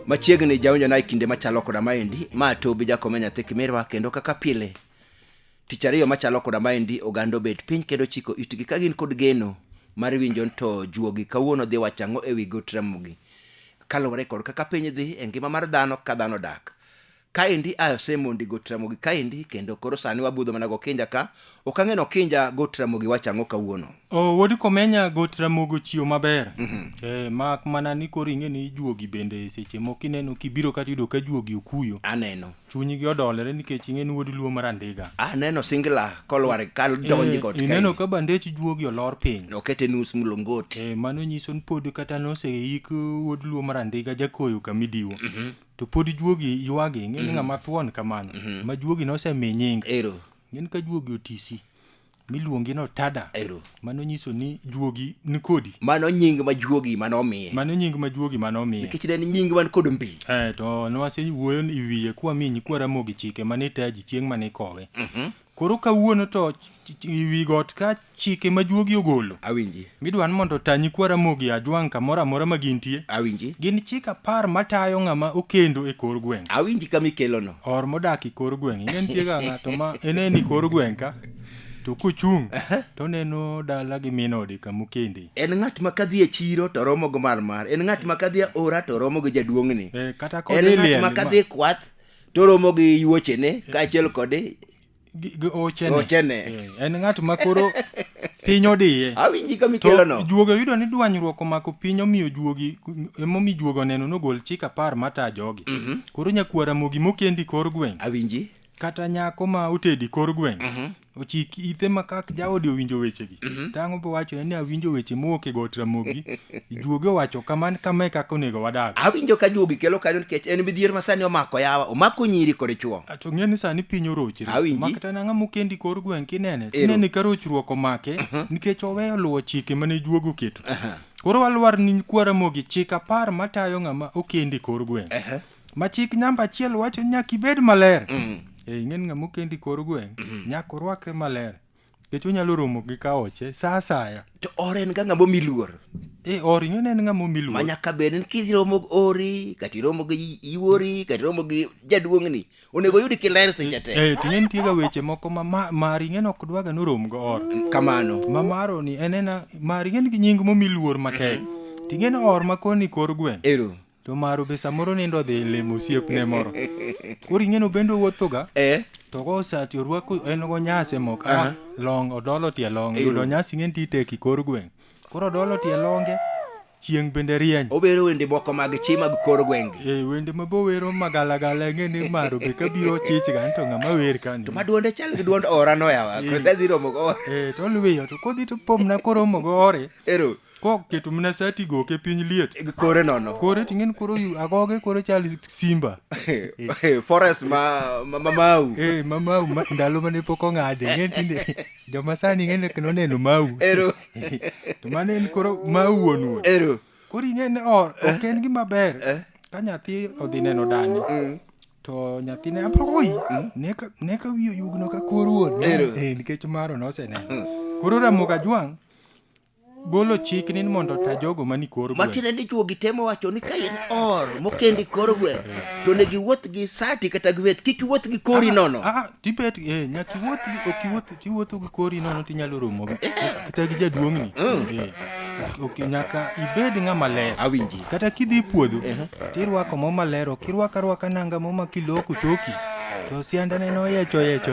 machiegni jaonjo na e kinde machalo koda maendi ma tobi jakome nyathi kimirwa kendo kaka pile tich ariyo machalo koda maendi oganda obet piny kendo chiko itgi ka gin kod geno mar winjo to juogi kawuono dhi wacho ang'o e wi gotramogi kaluwore kod kaka piny dhi e ngima mar dhano ka dhano dak kaendi asemondi got ramogi kaendi kendo koro sani wabudho mana gokinja ka ok ang'e nokinja got ramogi wacho ang'o kawuono o wuod komenya got ramogo chiwo maber eh, mak mana ni koro ing'e ni juogi bende seche moko ineno kibiro kata yudo ka juogi okuyo aneno chunygi odolore nikech ing'e ni wuod luo marandiga aneno singla kolwar kadonji got ineno ka ka bandech juogi olor piny okete nus mlongoti Eh, mano nyiso ni pod kata noseik wuod luo marandiga jakoyo kamidiwo to pod juogi ywagi ing'e ni ng'ama thuon kamano ma juogi nosemi nying Ero. ng'en ka juogi otisi miluongi no tada Ero. mano nyiso ni juogi nikodi Mano nying ma juogi mane omiye. mano nying ma juogi mane omiye Nikech ne en nying man kod mbi. Eh, to nwasewuoyo i wiye kwamiyi nyikwa Ramogi chike mane itaji chieng' mane ikowe Koro kawuono to wi got ka chike ma juogi ogolo. Awinji. Midwa ni mondo otanyi kwa Ramogi Ajwang' kamoro amora ma gintie. Awinji. Gin chik apar matayo ng'ama okendo e kor gweng'. Awinji kama ikelono. Or modak e kor gweng'. Ing'e nitie ga ng'ato ma eneni kor gweng' ka to kochung' to neno dala gi min ode kama okende. En ng'at ma kadhi e chiro to romo gi marmar. En ng'at ma kadhi e ora to romo gi jaduong'ni. Eh, kata En kodhi ng'at liel. ma kadhi e kwath to romo gi yuochene kaachiel kod Gi- gi ochene. Ochene. Eh, en ng'at ma koro piny odiye awinji ka to mikelono juogi oyudo ni dwanyruok omako piny omiyo juogi emomiyo juogi oneno nogol chik apar mata jogi koro nyakwara mogi mokendi kor gweng' awinji kata nyako ma otedi kor gweng' ochik ite ma kak jaode owinjo wechegi to ang'o bowachone ni awinjo weche mowuok e got ramogi juogi owacho kaman kama e kaka onego wadag awinjo ka juogi kelo kanyo nikech en midhier ma sani omako yawa omako nyiri kod chuo A, to ng'e ni sani piny orochre Awinji. ma kata nang'a mokendi kor gweng' kinene Ero. tinene ka rochruok omake nikech oweyo luwo chike mane juogo oketo koro walwar ni kwara mogi chik apar matayo ng'ama okendi kor gweng' ma chik namba achiel wacho ni nyaka ibed maler Mm. e ing'en ng'ama okendi kor gweng' nyaka orwakre maler nikech onyalo romo gi kaoche sa asaya to or en ga ng'ama omi luor e or ing'en en ng'ama omi ma luor nyaka bed ni kiromo gi ori kata iromo gi iwori kata iromo gi jaduong'ni onego oyudi kiler seche te e ting'e nitiega weche moko ma ma- mar ing'en ok dwaga ni orom go or kamano ma maro ni en ena mar ing'en gi nying momi luor matek ting'en or ma koni kor gweng' ero to maro be samoro nindo odhi limo osiepne moro koro ing'eno bende owuothoga eh to kosati orwako en go nyase mok Aha. ah, long odolo tie long Eyo. yudo nyasi ng'en tite kikor gweng' koro odolo tie longe chieng' bende rieny obero wende moko mag chi mag kor gwenge e wende mabowero magalagala ng'e ni maro be kabiro chich ga to ng'ama wer kani to ma duonde chal gi duond ora no yawa kosedhi romo go e to luwiyo to kodhi to pomna koromo go ore ero Ko keto mna sati go ke piny liet. Kore nono. Kore ting'en koro yu agoge koro chal simba. Eh, forest ma ma- ma mau. Eh, ma mau ma, ndalo mane pok ong'ade. Ng'en tinde joma sani ng'en kendo neno mau. Ero. to mane en koro mau wuon wuon. Ero. Koro ing'e ni or ok en gima ber. Ka nyathi odhi neno dani. To nyathine abroi. Ne ka ne ka wiyo yugno ka kor wuon. Ero. Eh, nikech maro noseneno. Koro Ramogi Ajwang' golo chik ni mondo ta jogo mani kor gweng' matiende ni chuo gitemo wacho ni ka in or mokendi kor gweng' to ne giwuoth gi sati kata gweth kik iwuoth gi kori nono Ah, ah, tibet eh, nyaka iwuoth gi- ok iwuoth tiwuotho gi kori nono tinyalo romo gi- kata gi jaduong'ni Eh, ok- ok, nyaka ibed ng'ama ler awinji kata kidhi e puodho tirwako mo maler ok irwak arwaka nanga mo ma kiloko toki to siandane no yecho yecho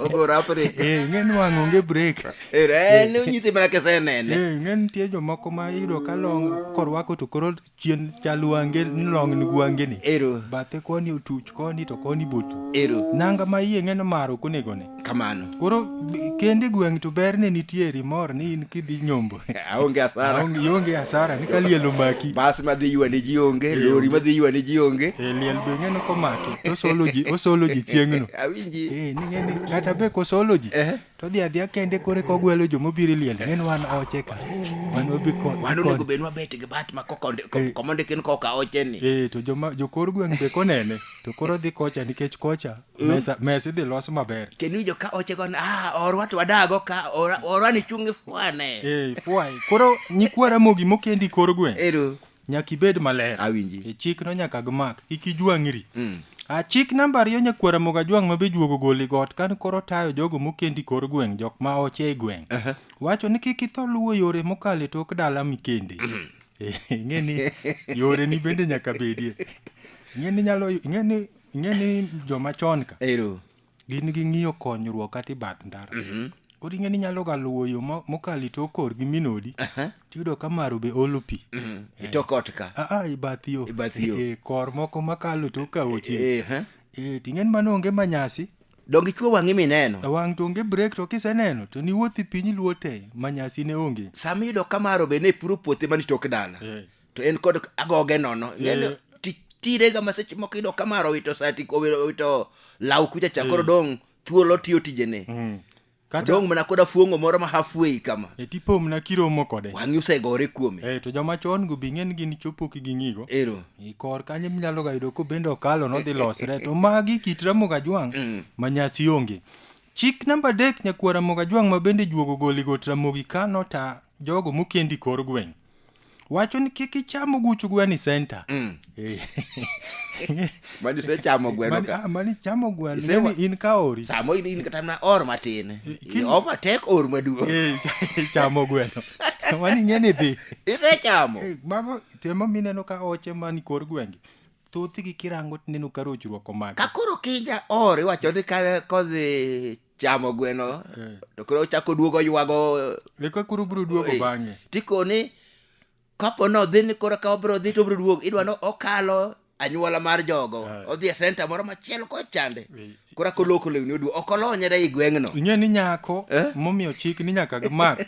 ogo rapre Eh, ing'e ni wang' onge break en onyisi mana kisenene Eh, ing'e nitie jomoko ma iyudo ka long korwako to koro chien chal wange ni long ni gwangeni ero bathe koni otuch koni to koni botu ero nanga ma iye ng'e ni maro okonegone kamano koro b- kende gweng' to berne nitiere imor ni in kidhi nyombo aonge athara Aonge- ionge hasara ni ka liel omaki bas madhi ywane ji onge lori madhi ywane ji onge e, liel be ng'eno komaki to osolo ji osolo ji chieng'no awinji Eh, ni ng'eni kata be kosolo ji Eh. to dhi adhiya kende kore kogwelo jomobiro e liel ng'en wan oche ka wan wabi ko- wan onego kon- bed wabet gi bat ma kokonde- ko- Eh. komondikin koka ocheni Eh, to joma jokor gweng' be konene to koro dhi kocha nikech kocha mesa mesa idhi los maber kendo iwinjo ka ochego ni ah orwa to wadago ka ora- orwa ni chungi fwane eh fwai koro nyikwa ramogi mokendi kor gweng ero nyaka ibed maler Awinji. e chik no nyaka gmak kik ijwang'ri Mm. a chik namba ariyo nyakwa ramoga jwang' ma be juogo goli got kan koro tayo jogo mokendi kor gweng' jok ma oche e gweng' wacho ni kik itho luwo yore mokalo e tok dala mikende Eh, ing'e ni yore ni bende nyaka bedie ing'e ni nyalo ing'e ni ing'e ni joma chon ka ero gin gi ng'iyo konyruok kata i bath ndara koro ing'e ni inyalo ga luwo yo mo- mokalo itok kor gi minodi tiyudo ka maro be olo pi itok ot ka aa i bath yo I bath yo. Eh, kor moko makalo tok ka oche Eh, eh. Eh, ting'e ni mano onge manyasi donge ichwo wang'i mineno e wang' to onge brek to kiseneno to niwuothi piny iluwo te manyasi ne onge sama iyudo ka maro be ne puro puothe man tok dala Eh. to en kod agoge nono ng'eni ti- tirega ma seche moko iyudo kamaro owito sati owito owito law kucha cha koro dong' thuolo tiyo tijene Mm. kata dong' mana koda fuong'o moro ma halfway kama e tipomna kiromo kode wang'i osegore kuome Eh, to joma chon go be ng'en gin chopo ki ging'igo ero i kor kanyo minyalo ga yudo kobende okalo nodhi losre to magi kit ramogo ajwang' Mm. ma nyasi onge chik namba adek nyakuo ramogo ajwang' ma bende juogo goli got ramogi kano ta jogo mokendi kor gweng' wacho ni kik icham oguch gweno e center mm. eh. mani isechamo gweno ka ah, mani chamo gweno Ise wa... in ka ori samo in, in kata na or matin eh, Kin... overtake or maduong eh, chamo gweno mani ng'eni dhi isechamo eh, mago temo mineno ka oche mani kor gwenge thothgi kirango tineno ka rochruok omako ka koro kija or iwacho ni ka kodhi chamo gweno Eh. to koro ochako duogo ywago Eka koro biro duogo Eh. bang'e. tikoni kapo ni odhi ni koro ka obiro dhi to obiro duogo idwa ni okalo anyuola mar jogo Ah. odhi e senta moro machielo kochande Eh. koro ako loko lewni oduo ok olonyre i gweng'no Ing'e ni nyako Eh? momiyo chik ni nyaka gimak.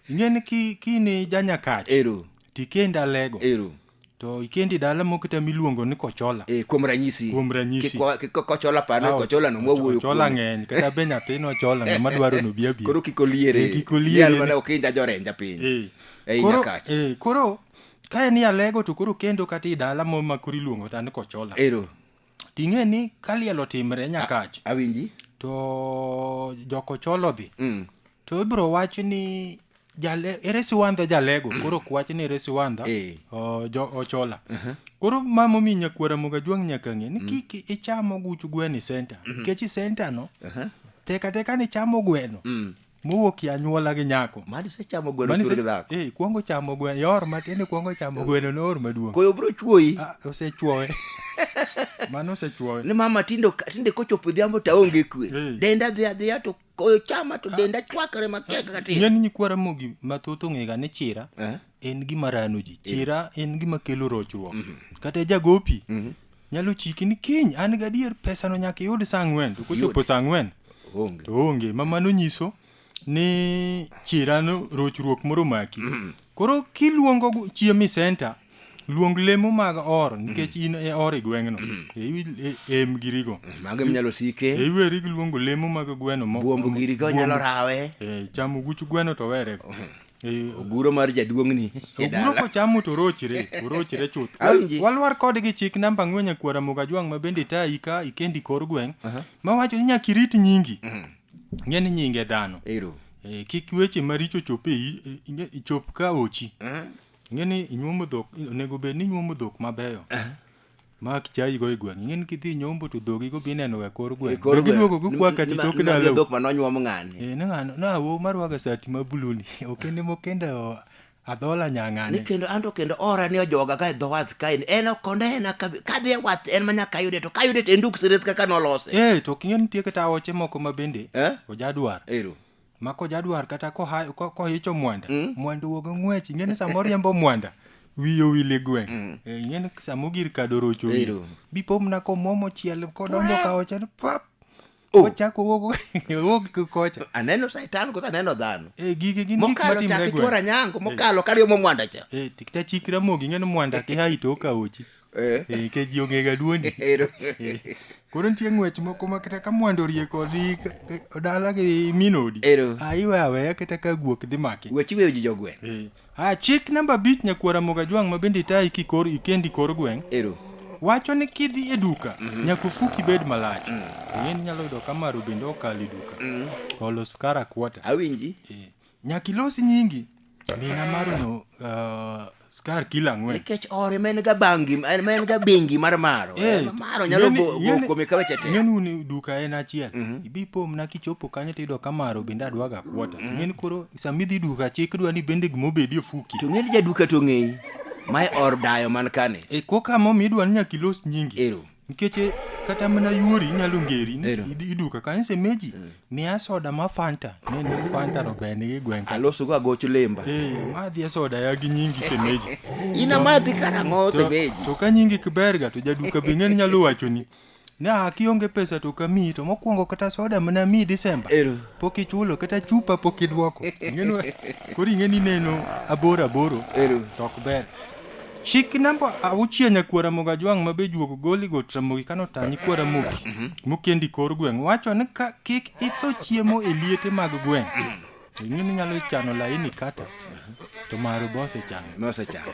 Ing'e ni ki- kini janyakach. ero tikenda lego. ero to ikendi dala moko te miluongo ni kochola e, kuom ranyisi Kuom ranyisi. Kik wa- kik kochola pano Aw, kochola no mwawuoyo ochola kuome. ng'eny kata be nyathino ochola ng'ama dwaro ni obi abi koro kik oliere Eh, kik oliere Yal ni- mana okinja jorenja piny Eh. Ei Koro- nyakacha. eh, koro ka en alego to koro kendo kata i dala mo ma koro iluongo ta ni kochola ero ting'e ni ka liel otimre nyakach awinji to jokochola odhi mm. to ibiro wach ni jale, ere siwandha jalego koro ok wach ni ere siwandha Eh. o- jo- ochola koro ma momiyo nyakwara moga jwang' nyaka ng'e ni kik icham oguch gwen e senta nikech e senta no teka teka ni chamo gweno mowuok e anyuola gi nyako mani sechamo gweno Mani tur se- gi dhako eh, kwongo chamo gweno yor matin kwongo chamo gweno noor maduong' koyo biro chuoyi Ah, osechuowe mano osechuowe ni mama tindo tinde kochopo odhiambo to aonge kwe Eh. denda dhi adhiya to koyo chama to denda chwakre matek kaka tin ng'eny nyikwara mogi mathoth ong'ega ni chira Eh. en gima rano ji chira en gima kelo rochruok kata jagopi nyalo chiki ni kiny an gadier pesano nyaka iyud saa ang'wen to kochopo saa ang'wen onge to onge ma mano nyiso ni chirano rochruok moro maki koro kiluongo gu- chiemi senta luong lemo mag or nikech in e or e gweng'no em girigo mago minyalo sike e iweri gi luongo lemo mag gweno mo- buombo giri ka onyalo buombo- rawe eh, chamo guch gweno to were Eh, oguro mar jaduong'ni e oguro dala kochamo to orochre orochre chuth Awinji. walwar kodgi chik namba ang'wen nyakwara mogajwang' ma bende tayi ka ikendi kor gweng' mawacho ni nyaka irit nyingi ng'e ni nyinge dhano ero Eh, kik weche maricho chop e i- i- i- chop ka ochi Ing'e ni inyuomo dhok, onego bed ni inyuomo dhok mabeyo. Ma kichayi go e gweng'. Ing'e ni kidhi nyombo to dhogi go bineno e kor gweng'. Koro Dhogi duogo gi kwa kati tok ndalo. dhok ma nonyuom ng'ani. Eh, ne ng'ano, na wo marwaga sati ma blue ni. Okende mokende o- adhola Ni nyang'ane. kendo anto kendo ora ni ojoga ka e dho wath kae. En ok onena ka kadhi e wath en ma nyaka ayude to kayude to en duk sires kaka nolose. Eh, to king'e nitie kata oche moko ma bende Eh? ojadwar. Ero. ma kojadwar kata koha- ko- kohicho mwanda Mm. mwanda wuog ng'wech ing'eni sama oriembo mwanda wiye owil e gweng' Mm. Eh, ing'eni sama ogir kado rocho wiye Ero. bipomna komwomo chiel kodonjo ka oche ni pap Oh. ochako wuok wuok ki kocha aneno saitan koso aneno dhano Eh, gigi gin gik mokalo matimre chak e ichwora gweng' nyango mokalo kariyo momwanda cha Eh, tikta chik ramogi ing'eni mwanda kiha ito okawochi Eh. Eh, nikech ji ong'ega duondi Ero. koro nitie ng'wech moko ma kata ka mwando orie kodi ka- ka- dala gi min odi Ero. Ah, iwe aweya kata ka guok dhi maki Wech iweyo ji jogweng'. Eh. Ah, chik namba abich nyakwara mogajwang' ma bende itayi kikor ikendi kor gweng' Ero. wacho ni kidhi e duka nyaka ofuki bed malach in nyalo yudo ka maro bende okalo e duka olo skara kuota Awinji. Eh, Nyaka ilos nyingi. Mina marono uh, skar kilo ang'wen. Nikech ore ma en ga bangi, en- ma en ga bengi mar maro. Eh, Eh, maro nyalo ng'eni- go- go ng'eni- kuome ka weche te. ng'eni uni duka en achiel ibi ipomna kichopo kanyo tiyudo ka maro bende adwaga kuota ng'eni koro sama idhi duka chik dwa ni bende gima obedi ofuki To ng'eni jaduka to ng'eyi. Mae or dayo man kani. e koka momi idwa ni nyaka ilos nyingi Ero. Nikech eh, kata mana yuori inyalo ngeri ni Ero. idi- iduka kanyo semeji miya soda ma fanta ne ni fanta no ber nigi gweng' ka. Aloso go agoch lemba. Eh, madhi e soda ya gi nyingi semeji. Ina madhi karang'o To- semeji. To ka nyingi kiberga to jaduka be ng'eni nyalo wachoni. Ne a kionge pesa to kamiyi to mokwongo kata soda mana miyi Disemba. Ero. Pok ichulo kata chupa pok idwoko. Ing'eni koro ing'eni neno aboro aboro Ero. to ok ber. Chik namba auchiel nyakuo Ramogi Ajwang' ma be juogo goli got Ramogi kano ta nyikwa Ramogi mokendi kor gweng' wacho ni ka kik itho chiemo e liete mag gweng' to ing'e ni inyalo chano laini kata to maru be osechano Nosechano.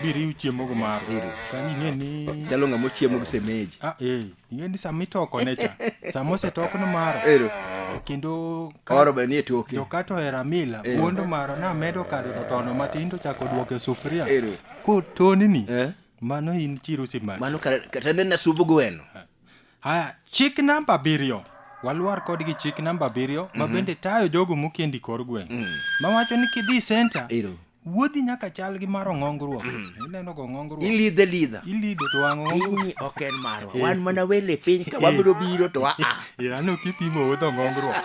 biriw chiemogo maru Iriw. kani ing'e ni Chalo ng'ama ochiemo gi semeji. Ah, eh. Yiendi sama itokone cha. Sama osetokno maro. Ero. Kendo ka- Oro be nie toke. to kato hero amila Eh. wuondo maro namedo kado to tono matin to chako duoke sufuria Ero. kotonini Eh? mano in chiro simaki Mano kata kata ne nasub gweno. haya chik namba abiriyo walwar kodgi chik namba abiriyo ma bende tayo jogo mokendi kor gweng' mawacho ni kidhi senta Ero. wuodhi nyaka chal gi mar ong'ongruok ineno go ong'ongruok ilidhe lidha ilido to wang' ong'ongruok pinyni ok en marwa wan mana wele piny ka wabiro biro to aa ano kipimo wuodh ong'ongruok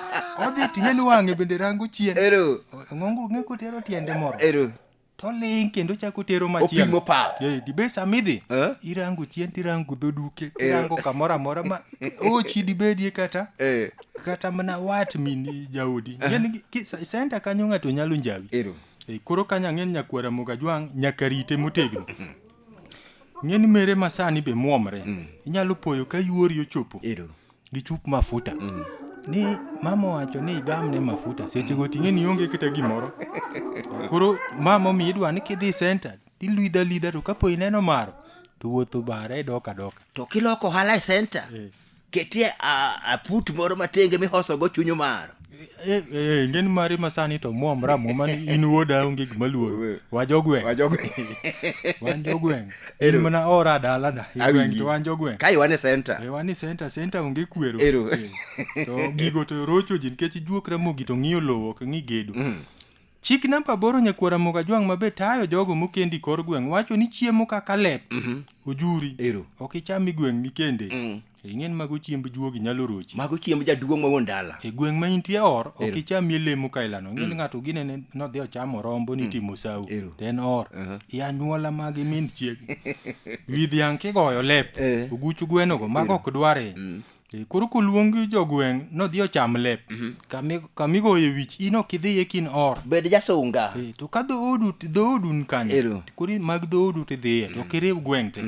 odhi ting'e ni wang'e bende rango chien ero ong'ongruok ng'e kotero tiende moro ero toling kendo chako tero opimo machielo pap Eh, dibe samidhi Eh? irango chien tirango dhoduke Eh. irango kamoro amora ma ochi dibedie kata Eh. kata mana wat min jaodi Ng'eni gi- ki- sa- senta kanyo ng'ato nyalo njawi Ero. Eh, koro kanya ng'en nyakwara moga jwang' nyaka rite motegno ng'eni mere masani be muomre inyalo poyo ka yuori ochopo Ero. gi chup mafuta ni mama owacho ni igamne mafuta sechego ting'e ni onge kata gimoro koro mama omi idwa ni kidhi senta tilwidha lidha to kapo ineno maro to wuotho bara idoka doka To kiloko ohala e senta. Eh. ketie a- aput moro matenge mihosogo chuny omaro Eh, eh, eh, ngeni mari masani to muomra muma ni in wuoda onge gima luoro wajogweng Wajogweng. wanjogweng in Ero. mana ora dalana Awinji. igweng to wanjogweng ka iwane senta Eh, wan e center center onge kwero Ero. Eh, to gigo to rocho ji nikech ijuokra mogi to ng'iyo lowo ok ng'i gedo Chik namba aboro Nyakwar Ramogi Ajwang' ma be tayo jogo mokendi kor gweng' wacho ni chiemo kaka lep, ojuri, Ero. ok icham i gweng' mikende. Mm. Ing'e ni mago chiemb juogi nyalo rochi. Mago chiemb jaduong' ma wuon dala. E gweng' ma intie or, ok Ero. ichamie lemo ka ilano. Ing'e ni ng'ato gine ne nodhi ochamo rombo ni timo sawo. Ero. To en or. Aha. I anyuola mag min chiegi. Wi dhiang' kigoyo lep, Eh. oguch gwenogo, mago ok dware. Eh, Koro koluong jogweng' nodhi ocham lep. Kami- Kamigoye wich in ok idhiye kin or. bed jasunga Eh, To ka dhoodu dhoodu ni kanyo. Ero. to Koro mag dhoodu tidhiye to ok iriw gweng' te.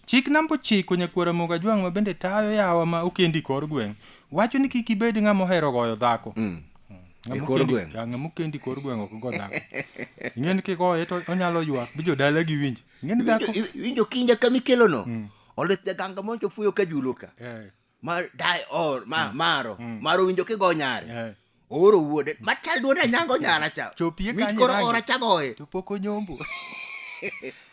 Chik namba ochiko nyakwara moga jwang' ma bende tayo yawa ma okendi kor gweng'. Wacho ni kik ibed ng'ama ohero goyo dhako. Ng'ama E kor okendi- gweng'. Ya, Ng'ama okendi kor gweng' ok go dhako. Ing'e ni kigoye to onyalo ywak bi jodala gi winj. Ng'e ni dhako- Iwinjo- iwinjo kinja kama ikelono olit jaganga moncho fuyo ka julo ka Eh, ma dai or ma maro maro winjo kigo nyare eh. ooro wuode machal duone anyango nyara cha Chopie Mit kanye koro rangi. ora chagoye To pok onyombo.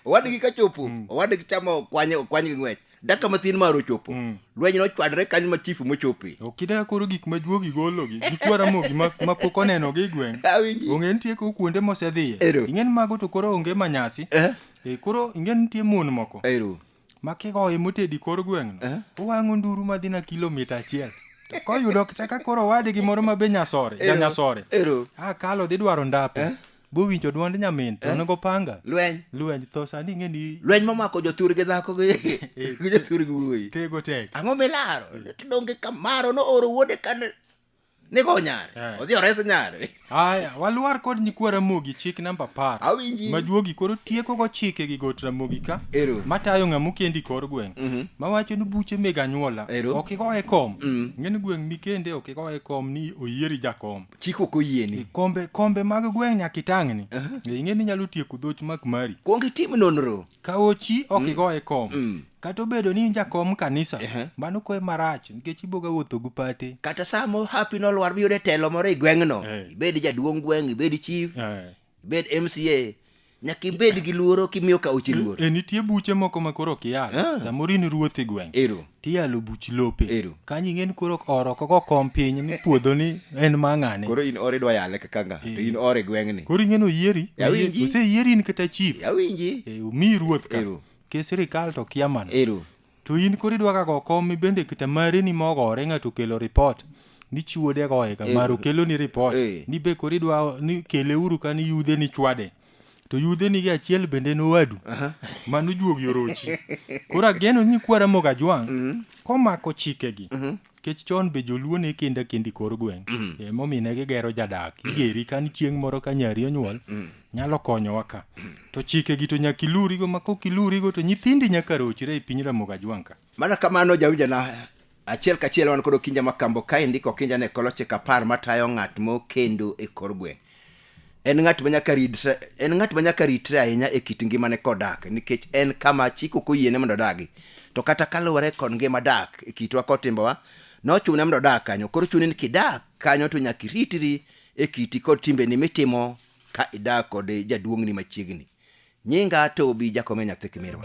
owadgi ka chopo owadgi chamo kwanye kwany gi ng'wech daka mathin mar ochopo mm. lweny nochwadre kanyo ma chifu mochope okidaka koro gik ma juogi gologi gik waramogi ma pok oneno gi gweng' ong'e nitie ko kuonde mosedhiye ing'en mago to koro onge manyasi eh? e, koro ing'en nitie mon moko Ero. ma kigoye motedi kor gweng'no eh? owang'o nduru madhi na kilomita achiel koyudo kata ka koro wadgi moro ma be nyasore janyasore akalo dhi dwaro ndape eh? bowinjo dwond nyamin to Eh. onego panga lweny lweny tho sani ing'e ni lweny momako jothur gi dhako gi gi jothur gi wuoyi tego tek ang'o milaro to donge kamaro no oro wuode kane nigo nyare Eh. odhi ores nyare aya walwar kod nyikwa ramogi chik namba apar awinji majuogi koro tieko go chike gi got ramogi ka ero matayo ng'ama okendi kor gweng' Mhm. mawacho ni buche meg anyuola Ero. ok igoye kom Mm. ng'eni gweng' mikende ok igoye kom ni oyieri jakom chik ok oyieni kombe kombe mag gweng' nyaka itang'ni Eh, ing'e ni inyalo tieko dhoch mak mari kuong itim nonro ka ochi ok igoye kom Mm. kata obedo ni in jakom kanisa Ehe. mano koe marach nikech iboga wuotho gi pate kata samo hapi nolwar biyude telo moro i gweng'no Eh. ibed jaduong' gweng' ibed chief Eh, ibed mca nyaka ibed gi luoro kimiyo kaoche luor e nitie buche moko ma koro ok iyal Ah. samoro in ruoth e gweng ero tiyalo buch lope Ero. kanyo ing'eni koro oro koko kom piny ni puodho ni en mang'ane koro in ore idwa yale kaka nga to in ore gweng'ni koro ing'eni oyieri Awinji. oseyieri in kata chief yawinji e, omiyi ruoth ka Ero. ke sirikal to kia mana ero To in koro idwa ga go kom ibende kita mari ni mogore ng'ato kelo report ni chiwo de goye ga Eh, maru kelo ni report eh. ni be koro idwa ni kele uru ka ni yudhe ni chwade to yudhe ni gi achiel bende no wadu mano juogi orochi koro ageno ni kwara moga jwang komako chikegi Nikech chon be joluo ne kendo akenda e kor gweng'. Mm. E, momiyo ne gigero jadak. Mm. Igeri ka ni chieng' moro ka nyari onyuol, mm. nyalo konyowa ka. Mm. To chikegi to nyaka ilurigo, ma kok ilurigo to nyithindi nyaka rochre e piny Ramogi Ajwang' ka. Mana kamano jawinjana achiel kachiel wan kod Okinja Makambo kaendi Okinja ne koloche kapar matayo ng'at mokendo e kor gweng'. en ng'at ma nyaka ritre en ng'at ma nyaka ritre ahinya e kit ngimane kodak nikech en kama chik ok oyiene mondo odagi to kata kaluwore kod ngima dak e kitwa kod timbewa nochune mondo odag kanyo koro chuni ni kidak kanyo to nyaka iritri e kiti kod timbeni mitimo ka idak kod jaduong'ni machiegni nyinga tobi jakome nyathi kimirwa